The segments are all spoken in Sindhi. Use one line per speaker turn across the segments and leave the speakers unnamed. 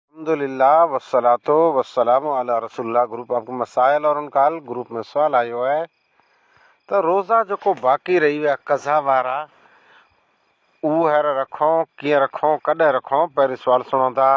الحمد لله والصلوة والسلام علی رسول الله گروپ آف مسائل اور ان کا حل گروپ ۾ سوال آيو آهي ته روزا جيڪو باقي رهي ويا قضا وارا اهو هينئر رکون ڪيئن رکون ڪڏهن رکون پهرين سوال سڻون ٿا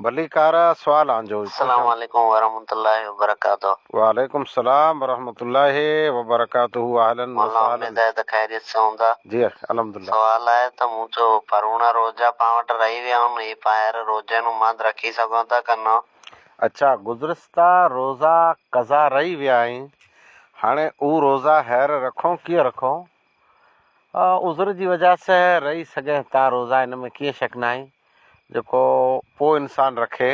ڀليڪار سوال آنجو. السلام عليڪم
ورحمة الله وبرڪاته وعليڪم السلام
ورحمة الله وبرڪاته اهلا وسهلا. مولا اميد آهي ته خيريت سان هوندا.
جي الحمد الله.
سوال آهي ته مون
چيو پروڻا روزا پان وٽ رهي ويا هن هي پان هير روزي نون ماند رکي سگهون ٿا ڪه نه. اچا
گذرستا روزا قضا رهي ويا آهين هاڻي اهو روزا هير رکون ڪيئن رکون عذر جي وجه سه رهي سگهين ٿا روزا ان ۾ ڪيئن شڪ ناهي جيڪو پو انسان رکي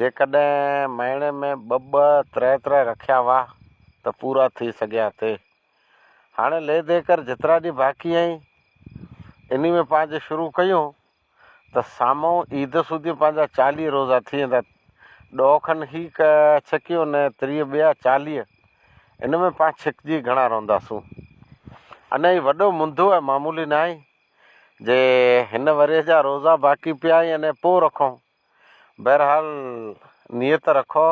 جيڪڏهن مهيني ۾ ٻه ٻه ترهه ترهه رکيا هئا ته پورا ٿي سگهيا ٿي. هاڻي لي دي ڪر جيترا ڏينهن باقي آهين انهي ۾ پنهنجي شروع ڪيون ته سامهون عيد سوڌي پنهنجا چاليهه روزا ٿي ويندا. ڏهه کن هي ڇڪيون نه تريهه ٻيا چاليهه ان ۾ پان ڇڪجي گهڻا رهنداسون. اڃا هي وڏو منڌو ۽ معمولي ناهي جي هن ورهيه جا روزا باقي پيا آهين انهي پوء رکون. بهرحال نيت رکو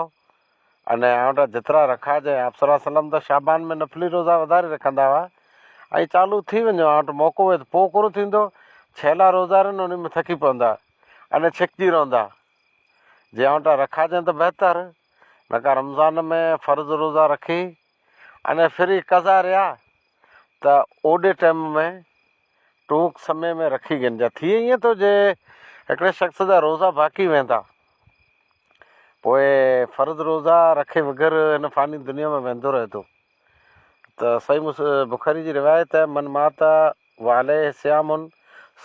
۽ آئونڊا جترا رکا جي آپ صلي الله عليه وسلم ته شعبان ۾ نفلي روزا وڌاري رکندا هئا ۽ چالو ٿي وڃو آئونٽ موقعو هئي ته پو ڪونه ٿيندو ڇيلا روزارين انهي ۾ ٿڪي پوندا ۽ ڇڪجي رهندا جي آئونٽا رکا جين ته بهتر نڪا رمضان ۾ فرض روزا رکي ان ڦري قضا ريا ته اوڏي ٽيم ۾ ٽونڪ سمي ۾ رکي گنجا ٿئي ائين ٿو جي هڪڙي شخص جا روزا باقي ويندا پوء فرض روزا رکي وغير هن فاني دنيا ۾ ويندو رهي ٿو ته صحيح مس بخاري جي روايت آهي من مات والي سيام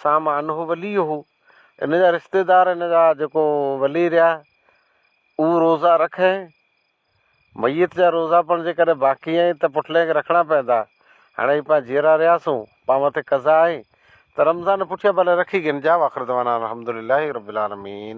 سام انه ولي هو ان جا رشتيدار ان جا جيڪو ولي رهيا اهو روزا رکي ميت جا روزا پڻ جيڪڏهن باقي آهن ته پٺلين کي رکڻا پوندا. هاڻي هي پان جيئرا رهياسون، پان مٿي قضا آهي ته رمضان پٺيان ڀلي رکي گهن جا واخردعوانا الحمدلله رب العالمين.